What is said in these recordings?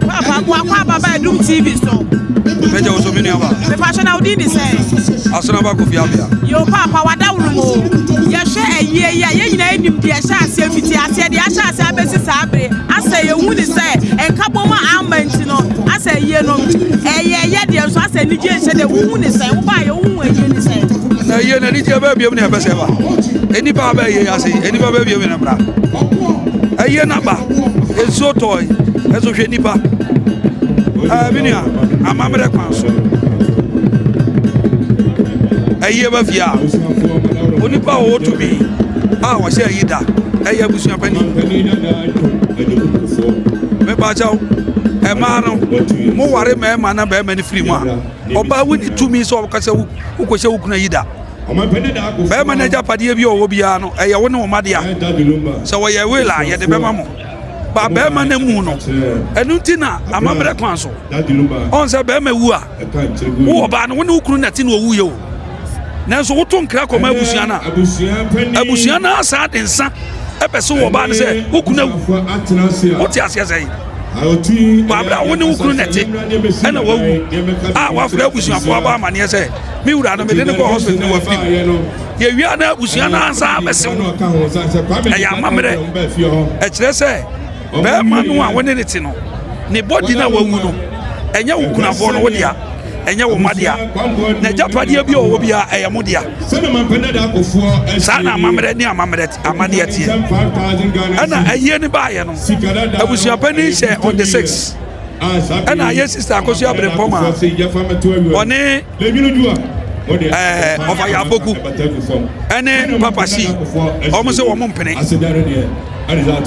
Papa mo akɔ aba bɛɛ dum TV so. Bɛ jɛ woso mi ni aba. Bɛ pa sɔnna o di ni sɛ. Asuna ba kofi abia. Yo papa wa da wulu mo. Yɛ hwɛ ɛyie yɛ yɛ nyina enim di ɛhyɛ aseɛ fiti aseɛ di ahyɛ aseɛ abɛsi saa bere asɛ yɛ hu ni sɛ ɛnka bɔ mu ama nti no asɛ ɛyie no ɛyɛ yɛ deɛ nso asɛ ni gye nhyɛ de wuhu ni sɛ wo ba yɛ wuhu ɛyie ni sɛ. Na ɛyie na ni gye bɛ biem na ɛbɛsɛ ba. Enipa bɛ yɛ ase enipa bɛ biem na bra. Ɛyie na ba. Nsuo tɔɔe nso hwɛ nipa ɛɛ mi nua amammerɛ kwan so ɛyi ɛba fie a onipa a ɔwɔ tumi a ɔhyɛ ɛyi da ɛyɛ abusua panyin mɛbaakyɛw ɛmaa no mo ware mɛɛma na bɛɛma no firi mu a ɔbaa wo ne tumi sɛ ɔkasɛ wo wokɔhyɛ wo kuna yi da Barima no agyapadeɛ bi a ɔwɔ biara no, ɛyɛ wo ne wo mma dea. Sɛ wɔyɛ will a, yɛde bɛma mo. Ba barima no mu no, ɛno nti na amammerɛ kwan so. Ɔn sɛ barima wu a, wowɔ baa no, wo ne wo kunu na ti na ɔwuiɛ o. Nanso woto nkra kɔma abusua no a, abusua no asan de nsa ɛbɛse wɔ baa no sɛ wo kunu awu. Wote aseɛ sɛ yi? Bɔ abere a wo ne wo kunu na ɛte ɛna wawu a wafrɛ abusuafoɔ abɔ amanneɛ sɛ. me wura no mede no kɔ hospital ne wafi mu yɛwia no abusua no ansa bɛsew no ɛyɛ amammerɛ ɛkyerɛ sɛ bɛrima no a wone ne te no ne bɔdi no a wawu no ɛnyɛ wo kunafoɔ no wo dea ɛnyɛ wo mma dea na agyapadeɛ bi a ɔwɔ biara ɛyɛ mo dea saa na amammerɛ ne amammerɛ amadeɛ teɛ ɛna ayie no baayɛ no abusuapani hyɛ on the six ɛna yɛ sista akosua abirempɔ ma ɔne ɛɛ ɔfa yɛ aboku ɛne papa si wɔn sɛ wɔn mpene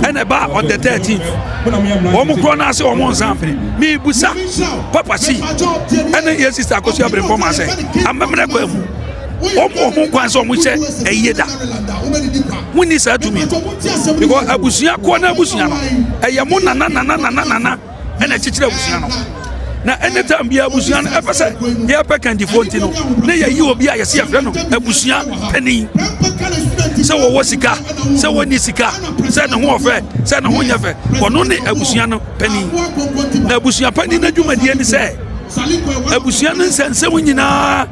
ɛna ɛba on the thirteen wɔn korɔ naa sɛ wɔn nsa mpene miibusa papa si ɛne yɛ sista akosua abirempɔ ma sɛ amammerɛ kɔ emu. wɔbu wɔn ho kwan sɛ wɔn hyɛ ɛyie da wɔn ni saa tumi because abusua kɔ na abusua no ɛyɛ mo nana nana nana nana ɛna kyekyere abusua no na anytime bi abusua no ɛpɛ sɛ yɛpɛ kandifoɔ nti no na yɛyi obi a yɛsi yɛfrɛ no abusua panin sɛ wɔwɔ sika sɛ wɔnni sika sɛ ne ho ɔfɛ sɛ ne ho nyɛ fɛ ɔno ne abusua no panin na abusua panin no adwumadie ne sɛ abusua no nsɛnsɛm nyinaa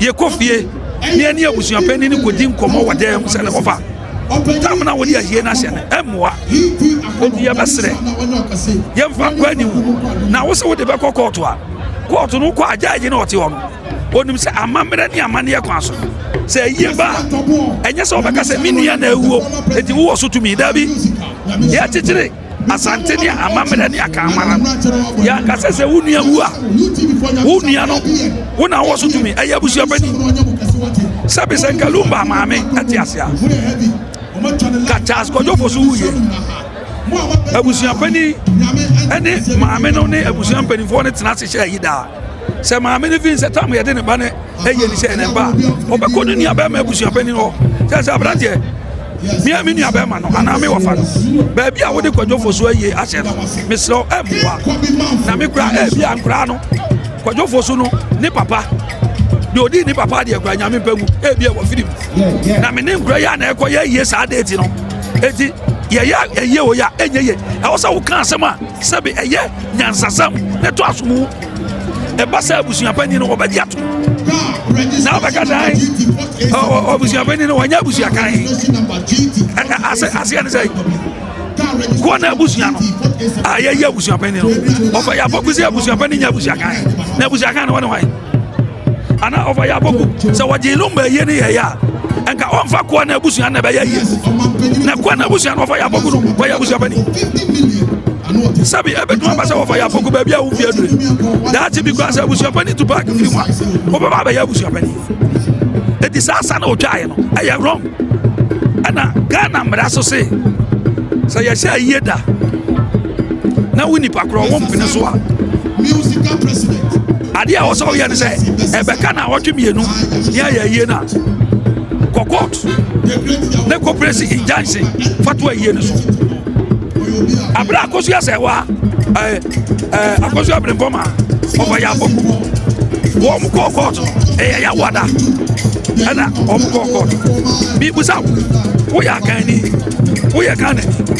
yɛkɔ fie ne ɛne abusua panyin no kɔdi nkɔmmɔ wɔ dan mu sɛ ne hɔfa tam na wode ahie no ahyɛ no ɛmmoa enti yɛbɛserɛ yɛmfa nkɔ anim na wo sɛ wode bɛkɔ kɔɔto a kɔɔto no wokɔ agyaagye na ɔte hɔ no onim sɛ amammerɛ ne amanneɛ kwan so sɛ ɛyie ba ɛnyɛ sɛ wobɛka sɛ me nua na awuo enti wowɔ so tumi daabi yɛkyekyere Asante ne amammerɛ ne akanwara no, yɛanka sɛ sɛ wo nua wu a, wo nua no, wo na wowɔ so tumi, ɛyɛ abusua pani. Sɛbe sɛ nka Lumba maame ɛte ase a, ka Charles Kwadwofo so wuye. Abusua pani ɛne maame no ne abusua mpanimfoɔ no tena ase hyɛ ayi daa. Sɛ maame no fii sɛ tam a yɛde ne ba no yɛ ne sɛ ne ba a, ɔbɛkɔ ne nuabɛrima abusuapanin hɔ sɛ sɛ aberanteɛ mea me nuabɛrima no anaa me wɔfa no baabi a wode kwadwofo so ayie ahyɛ no mesrɛ wo ɛmmoa na me kora ɛbi a nkoraa no kwadwofo so no ne papa deɛ ɔdii ne papa adeɛ kora nyame mpa mu ɛbi a wɔfiri mu na me ne nkora yi a na ɛkɔ yɛ ayie saa deeti no ɛti yɛyɛ ayie o yɛ ɛnyɛ yie ɛwɔ sɛ woka asɛm a Sɛbe ɛyɛ nyansasɛm na ɛtɔ asom o, ɛba sɛ abusuapanyin no ɔbɛgye atom. Na ɔbɛka dan abusuapanyin no ɔnyɛ abusuakan. Ase aseɛ ne sɛ kɔ na abusua no a yɛyɛ abusuapanyin no ɔfɛ yɛ afɔkusi abusuapanyin nyɛ abusuakan na abusuakan no wɔne wɔn. anaa ɔfa yɛ aboku sɛ wɔgye nom bɛ yie ne yɛyɛ a nka ɔmfa koa no abusua na ɛbɛyɛ yie na koa no abusua no ɔfa yɛ aboku no wɔyɛ abusua pani sɛbi ɛbɛtumi aba sɛ wɔfa yɛ aboku baabi a wofie adure daakye bi koraa sɛ abusua pani tu paaki firi mu a wobɛba abɛyɛ abusua pani ɛti saa sa na ɔtwaeɛ no ɛyɛ wrong ɛna ghana mmara so se sɛ yɛhyɛ ayie da na wo nipa korɔ wo mpene so a adeɛ a wɔsɛ woyɛ ne sɛ ɛbɛka na wɔtwe mmienu ne ayɛ ayie no a kɔ court ne kɔprɛsi injunction fa to ayie no so aberɛ akoso yɛ sɛ wa akoso abrempɔ ma ɔkɔyɛ abɔku wɔn kɔɔ court ɛyɛ yawada ɛna wɔn kɔɔ court bibusa woyɛ akanni woyɛ kanani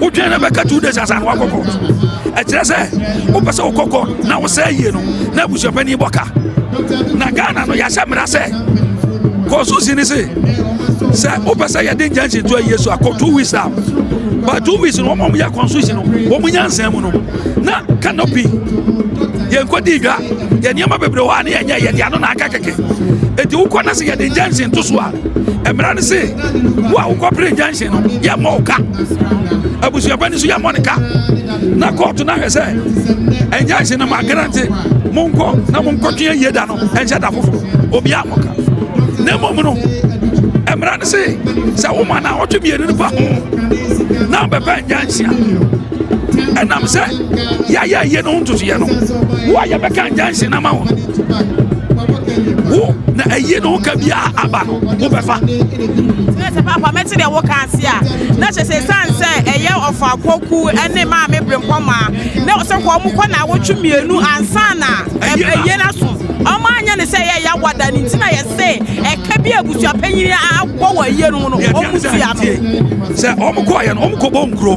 wodwene no bɛka two days ansa na wakɔ court ɛkyerɛ sɛ wopɛ sɛ wokɔ court na wosɛ yie no na abusuapani bɔ ka na ghana no yɛahyɛ mmara sɛ constitution ni se sɛ wopɛ sɛ yɛde injunction to ayie so akɔ two weeks a but two weeks no wɔn a wɔyɛ constitution no wɔn nyansa mu no na canopy yɛn kɔ di dwa yɛn nneɛma bebree hɔ a ne yɛn nyɛ yɛn de ano na aka kɛkɛ eti wokɔ na sɛ yɛde injunction to so a mmara no se wo a wokɔpere injunction no yɛmmɔ wo ka abusuaba ni so yɛmmɔ ne ka na kɔɔto no ahwɛ sɛ injunction no magarante monkɔ na monkɔtwe ayie da no ɛnhyɛ da foforɔ obiaa mmɔ ka na mmom no mmara no se sɛ woma na ɔtwe mmienu no pa ho na wobɛpɛ injunction ɛnam sɛ yɛayɛ ayie no ho ntotoeɛ no wo a yɛbɛka injunction ama wo wo na ayie no ho ka biara aba no wobɛfa sɛ papa mɛte deɛ woka ase a na kyɛ sɛ ɛsiane sɛ ɛyɛ ɔfa kɔku ne maa me berempɔ maa na sɛ kɔ ɔmo kɔ na awotwe mmienu ansa na ɛyɛ no aso ɔmo anyɛ ne sɛ ɛyɛ ɛyɛ awada ne nti na yɛse ɛka bi abusua panyin abɔ wɔ ayie no mu no ɔmo tua no sɛ ɔmo kɔɔyɛ no ɔmo kɔbɔ nkuro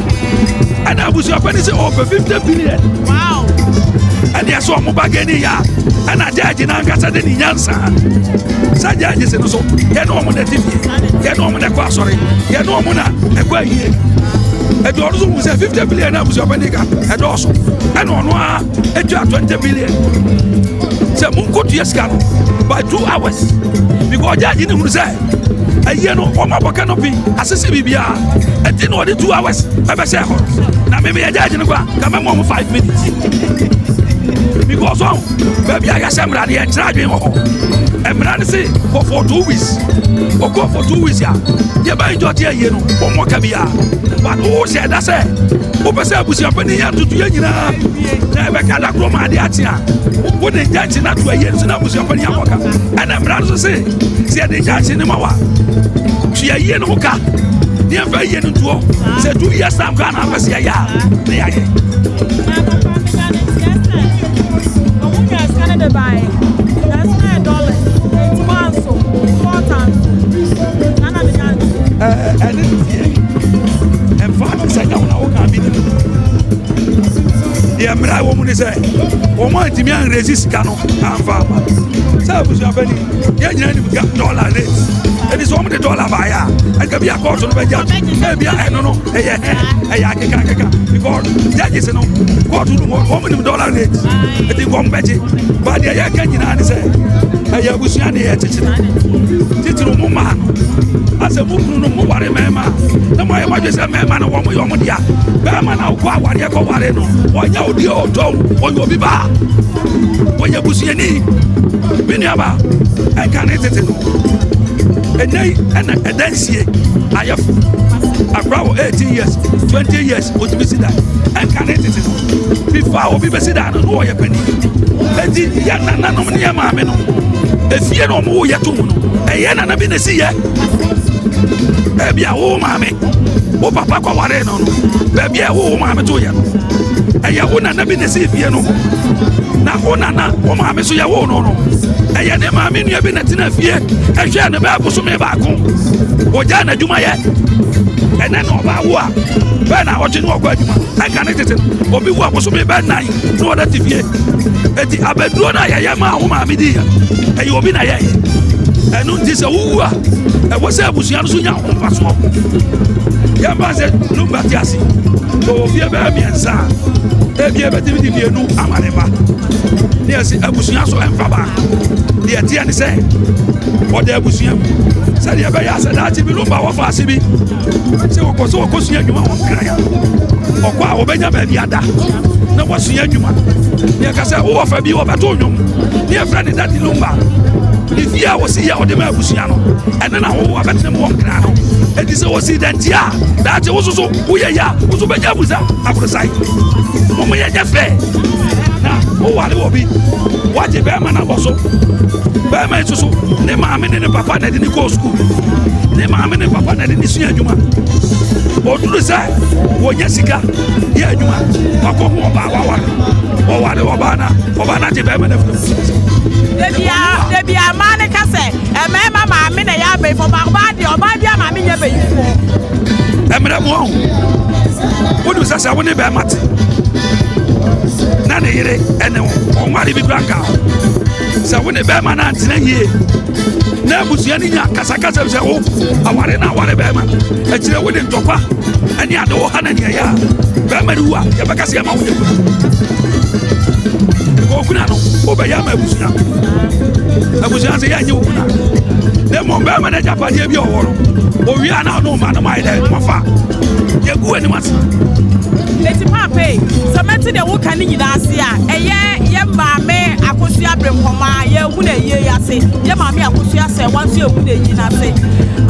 ɛna abusuapɛ ne sɛ ɔpɛ 50 billion ɛdeɛ sɛ ɔmo ba gani yɛ a ɛna gyɛɛgye no ankasa de ne nyansa sɛ gyɛɛgye se no so yɛne ɔmo na ɛte fie yɛne ɔmo na ɛkɔ asɔre yɛne ɔmo na ɛkɔ ayie ɛde ɔno so hu sɛ 50 billion na abusuapɛ ne ka ɛdɔɔso ɛna ɔno a ɛtwa 20 million sɛ monkotua sika no by two hours because ɔgyaagye ne hunu sɛ ɛyie no wɔn abɔkɛ no bi asese biribiara ɛti na ɔde two hours ɛbɛhyɛ hɔ na mimi ɛgyaagye no kora ka mɛmɔ mo five minutes because ɔn baabi a yɛahyɛ mmara no yɛnkyerɛ adwene wɔ hɔ mmara no se kɔ for two weeks ɔkɔ for two weeks a yɛbɛyɛ gyɔte ayie no wɔmmɔ ka biara wohyɛ ɛda sɛ wopɛ sɛ abusuapanin yɛ ntoto yɛ nyinaa na ɛbɛka da korɔ ma ade akye a wode nkyɛnkye no ato ayie no so na abusuapanin abɔ ka ɛna mmara no so se sɛ yɛde nkyɛnkye no ma wa tua yie no ho ka ne ɛmfa yie no ntoɔ sɛ tu yɛ sam koraa na apɛ sɛ yɛyɛ a ne yɛayɛ Bye. ɛmfa no sɛ ɛnyɛ wo na woka bi no deɛ mmerɛ a wɔ mu ne sɛ wɔn a ntumi anresi sika no amfa ama sɛ abusuabani yɛ nyina nim ga dɔla ne ɛde sɛ wɔn de dɔla baeɛ a ɛka bi akɔɔto no bɛgya na ebia ɛno no ɛyɛ hɛ ɛyɛ akeka akeka because judges no kɔɔto no hɔ wɔn nim dɔla ne ɛde nkɔm bɛgye ba deɛ yɛka nyinaa ne sɛ ɛyɛ abusua ne yɛ kyekyere titiriw mo mmaa no asɛ mo kunu no mo ware mmarima na mo ayɛ mo adwene sɛ mmarima no wɔn yɛ wɔn dea barima na ɔkɔ awareɛ kɔ ware no ɔnyɛ odi ɔtɔ ɔyɛ obi baa ɔyɛ busuani me nuaba ɛnka ne tete no ɛnɛ yi ɛna ɛda nsie ayɛfo akora wɔ 18 years 20 years ɔtumi si da ɛnka ne tete no before a obi bɛsi dan no na ɔyɛ panin eti yɛ nananom ne yɛ maame no efie na ɔmo yɛ to mu no ɛyɛ nana bi na esi yɛ ebi a wo maame wo papa kɔ ware no no baabi a ɛwo wo maame to yɛ no ɛyɛ wo nana bi na esi fie no na wo nana wo maame so yɛ wo no no ɛyɛ ne maame nua bi na tena fie ɛhwɛ ne bɛɛ bosome baako ogya n'adwuma yɛ ɛnɛ na ɔbaa wo a bɛɛ na ɔgye ne ɔkɔ adwuma ɛka tete no obi wu abosome bɛn nan na wɔda te fie eti abɛduro no a yɛyɛ maa wo maame di yɛ ɛyɛ obi na yɛyɛ ɛno nti sɛ wowu a ɛwɔ sɛ abusua no so nya ho mfasoɔ yɛmfa sɛ no ba te ase ɔwɔ fie bɛyɛ mmiɛnsa a ebi ɛbɛtumi de mmienu ama ne ba ne ɛsi abusua so ɛmfa ba deɛ teɛ ne sɛ ɔda abusua mu sɛdeɛ ɛbɛyɛ asɛ daakye bi no ba wɔfa ase bi Sɛ wɔkɔ so wɔkɔ sua adwuma wɔn kra a ɔkɔ a wɔbɛnya baabi ada na wɔasua adwuma deɛ ka sɛ wowɔ fa bi wɔbɛto nnwom ne ɛfrɛ ne dade lumba ne fie a wɔsi yɛ ɔde ma abusua no ɛne na wowo abɛtena mu wɔn kra no ɛti sɛ wɔsi danti a daakye wo soso woyɛ yɛ a wo so bɛnya abusa aborosae wɔn yɛ nyɛ fɛ na woware wɔ bi woagye bɛrima no abɔ so bɛrima yi soso ne maame ne ne papa na ɛde ne kɔɔ sukuu ne maame ne papa na ɛde ne sua adwuma ɔduru sɛ wɔnya sika yɛ adwuma wakɔ ho ɔbaa waware ɔware ɔbaa na ɔbaa na agye bɛrima no afiri debia maa ne ka sɛ ɛmɛɛma maame na ɛyɛ abɛyifo ma ɔbaa deɛ ɔbaa bi a maame nyɛ bɛyifo ɛmmerɛ mu ɔho wonim sɛ sɛ wo ne bɛrima te na ne yere ɛne wo ɔnware bi kora nka sɛ wo ne bɛrima no antena yie na abusua no nya kasakasa sɛ wo aware na aware bɛrima akyirɛ wode ntɔkwa ɛne ade wo ha na neɛyɛ a bɛrima no wu a yɛbɛka sɛ yɛma woyɛ kuna okuna no wobɛyɛ ama abusua abusua sɛ yɛanyɛ wo kuna na mmom bɛrima no agyapadeɛ bi ɔwɔ no owie a na ɔne ɔma no maayɛ dɛ mafa yɛgu anim ase ɛti paapɛ sɛ mɛte deɛ woka ne nyinaa ase a Yɛ yɛ maame akosua bere nkɔmɔ a yɛ hu na yie yɛ ase yɛ maame akosua sɛ wɔn nso yɛ hu na yie na ase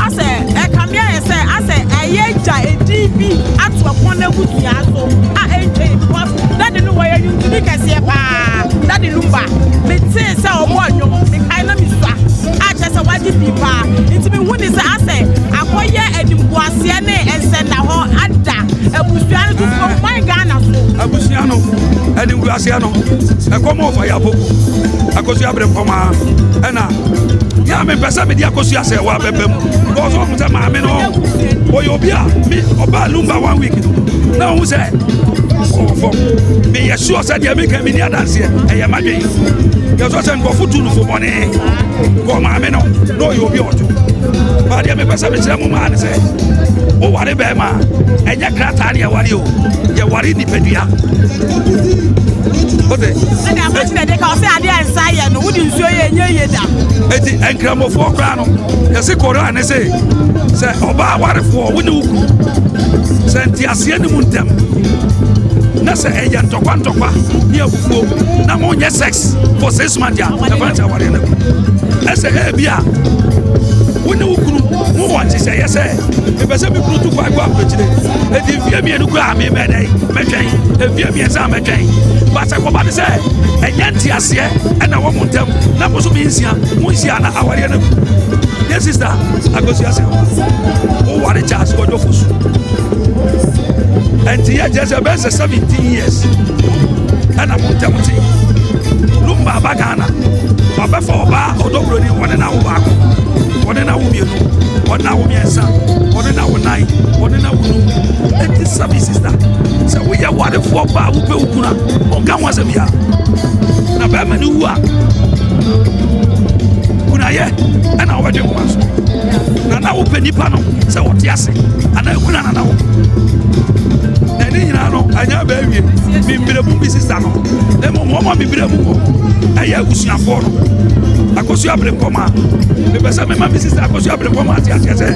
asɛ ɛka mi ayɛ sɛ asɛ ɛyɛ gya edi bi ato ɛpɔn na ebu dua so a ɛntwɛ because dadi no wɔyɛ nyuntumi kɛseɛ paa dadi no mba mi te sɛ ɔmo ɔnyom mi kae na mi sua a kyɛ sɛ wagye pii paa nti mi hu ni sɛ asɛ akɔyɛ ɛnimguaseɛ ne ɛnsɛnna hɔ ada. Abusua no tutu ɔman Ghana so. Abusua no ɛne wuraseɛ no ɛkɔm ɔfa yɛ aboko akosua bere pɔmaa ɛna yɛ a mepɛ sɛ mede akosua sɛ wɔ abɛbɛ mu bɔɔso ɔhu sɛ maame no ɔyɛ obi a me ɔbaa lumba one week no na ɔhu sɛ ɔwɔ fam meyɛ suɔ sɛ deɛ meka meni adanseɛ ɛyɛ madwen yɛsɔ sɛ nkurɔfo tu no fo bɔne kɔ maame no na ɔyɛ obi ɔto baadeɛ mepɛ sɛ mekyerɛ mo maa ne sɛ woware Bɛɛma, ɛnyɛ krataa ne yɛware o, yɛware nipadua. O de. Ɛdi afɔ ti na de ka ɔsɛ adi a nsa yɛ no, wodi nsuo yɛ enye yie da. Eti nkramofoɔ koraa no, yɛsi koraa ne se, sɛ ɔbaa warefoɔ wo ne wo kuru, sɛ nteaseɛ ne mu ntɛm, na sɛ ɛyɛ ntɔkwa ntɔkwa ne abufuo, na mo nyɛ sex for six months a, ɛfa nkyɛn awareɛ no. Ɛsɛ ɛbi a, wo ne wo kuru, mo wɔ nhyehyɛeɛ sɛ, mepɛ sɛ mekuru tu kwan kɔ aburokyire ɛti mfie mmienu kura a memɛ dɛn mɛtwɛn mfie mmiɛnsa a mɛtwɛn basɛ kɔba ne sɛ ɛnyɛ nteaseɛ ɛna wɔ mo ntam na mo so mensia monhyia na awareɛ no agu ne sista akosua sɛ woware charles kɔdwofo so ɛnti yɛ kyerɛ sɛ ɛbɛyɛ sɛ 17 years ɛna mo ntam te lumba aba ghana wabɛfa ɔbaa ɔdɔborɔni wɔne na wo baako wɔne na wo mmienu wɔne na wo mmiɛnsa wɔne na wo nan wɔne na wo num ɛti sabi sista sɛ woyɛ warefoɔ ba a wopɛ wo kunu a ɔnka ho asɛm biara na bɛrima ne wu a kunayɛ ɛna wɔbɛdwe nkwa so na na wopɛ nipa no sɛ wɔte ase anaa kuna na na wo na ne nyinaa no ɛnyɛ bɛawie memmiramu bi sista no mmom wɔma memmiramu wɔ ɛyɛ abusuafoɔ no akosua berempɔma ma mepɛ sɛ mema me sista akɔso abrepɔ ma ate aseɛ sɛ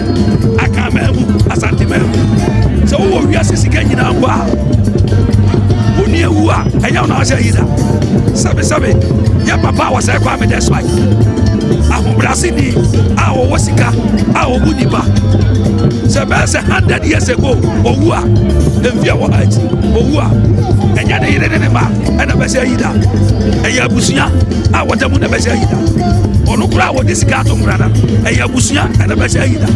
aka maa mu asante maa mu sɛ wowɔ wiase sika nyinaa mpo a woni awu a ɛnyɛ wo na wahyɛ yi da sɛbesɛbe yɛ papa a wɔsɛe kɔ a medɛ so ayi ahobrɛaseni a wɔwɔ sika a wɔbu nnipa sɛ bɛyɛ sɛ 100 years ago wɔwu a ɛmfie wɔ akyi wɔwu a ɛnyɛ ne yere ne ne ma ɛna bɛsɛ ayi da ɛyɛ abusua a wɔda mu na ɛbɛhyɛ ayi da ɔno koraa a wɔde sika ato mmara no ɛyɛ abusua na ɛbɛhyɛ ayi da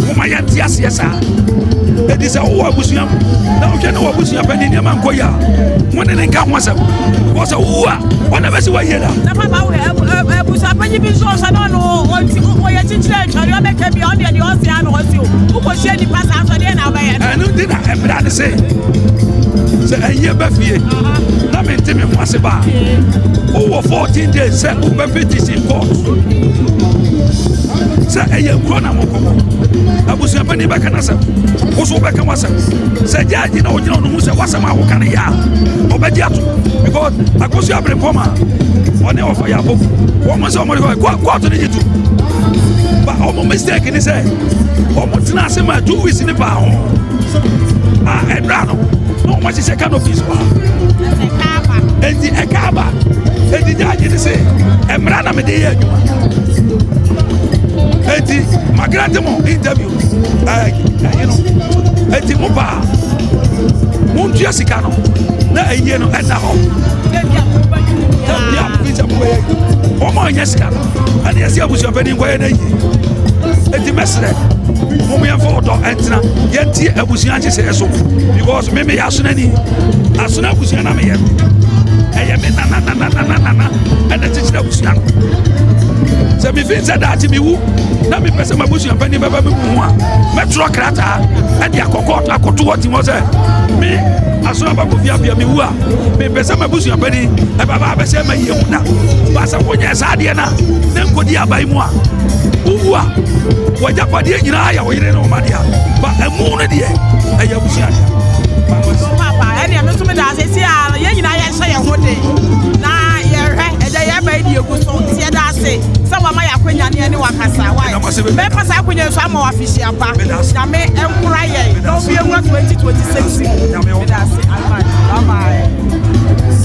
woma yɛnte aseɛ saa ɛdi sɛ wowɔ abusua mu na wohwɛ ne wɔ abusua pɛ ne nneɛma nkɔ yi a mo ne ne nka ho asɛm wɔ sɛ wowu a ɔna bɛsi woayie da abusuapanyi bi nso ɔsɛ ne ɔno ɔyɛ kyekyerɛ atware ɔbɛka bia ɔdeɛ deɛ ɔse a na ɔse o wokɔhyia nnipa saa sɔdeɛ na wobɛyɛ ɛno nti na ɛmmra ne se sɛ ɛnyɛ ba fie na mente me ho ase baa wowɔ 14 days sɛ wobɛfi tisi court sɛ ɛyɛ nkuro na mokɔkɔ abusuapani bɛka no asɛm wo so wobɛka w'asɛm sɛ gyaagye na wogyina wo no hu sɛ w'asɛm a woka no yɛ a ɔbɛgye ato because akosu aberempɔm a ɔne ɔfa yɛ abɔfu wɔn sɛ wɔn de kɔ kɔɔto ne gye to ba wɔn mistake ni sɛ wɔn tena ase ma two weeks ne paa ho. a ɛnura no na wɔn ahyehyɛ canopies wɔ ha eti ɛka aba eti gyaagye ne se ɛmira na mede yɛ adwuma eti magrante mo interview ɛɛ ɛyi no eti mo paa mo ntua sika no na ɛyie no ɛda hɔ. Thank you. ɛne yɛsi abusuapɛ ni nkɔyɛ na yie eti mɛsrɛ mo mo yɛnfa ɔdɔ ɛntena yɛnti abusua nhyehyɛ so because me me yɛ asona ni asona abusua na me yɛ ɛyɛ me nana nana nana nana ɛna kyekyere abusua no sɛ mefi sɛ daakye mewu na mepɛ sɛ mabusua pani bɛba me mu ho a mɛtwerɛ krataa ɛde akɔkɔ akoto hɔ tim hɔ sɛ me aso abakɔ fiabea mewu a mepɛ sɛ mabusua pani ɛbaba abɛsɛ ma yie mu na baasɛ wonyɛ saa adeɛ no a na nkɔdi aban mu a wowu a wɔagyapadeɛ nyinaa yɛ wo yere ne wo ma dea ba ɛmu no deɛ ɛyɛ abusua dea ɛdeɛ me so meda ase si a yɛn nyinaa yɛhyɛ yɛn ho den na yɛhwɛ ɛdɛ yɛba yi diegu so nti yɛda ase sɛ wama yɛ akwanya ne ɛne wakasa wae mɛpa saa akwanya nso ama wafihyia pa nyame ɛnkora yɛn na obi ɛwura 2026 mu meda ase advance bye bye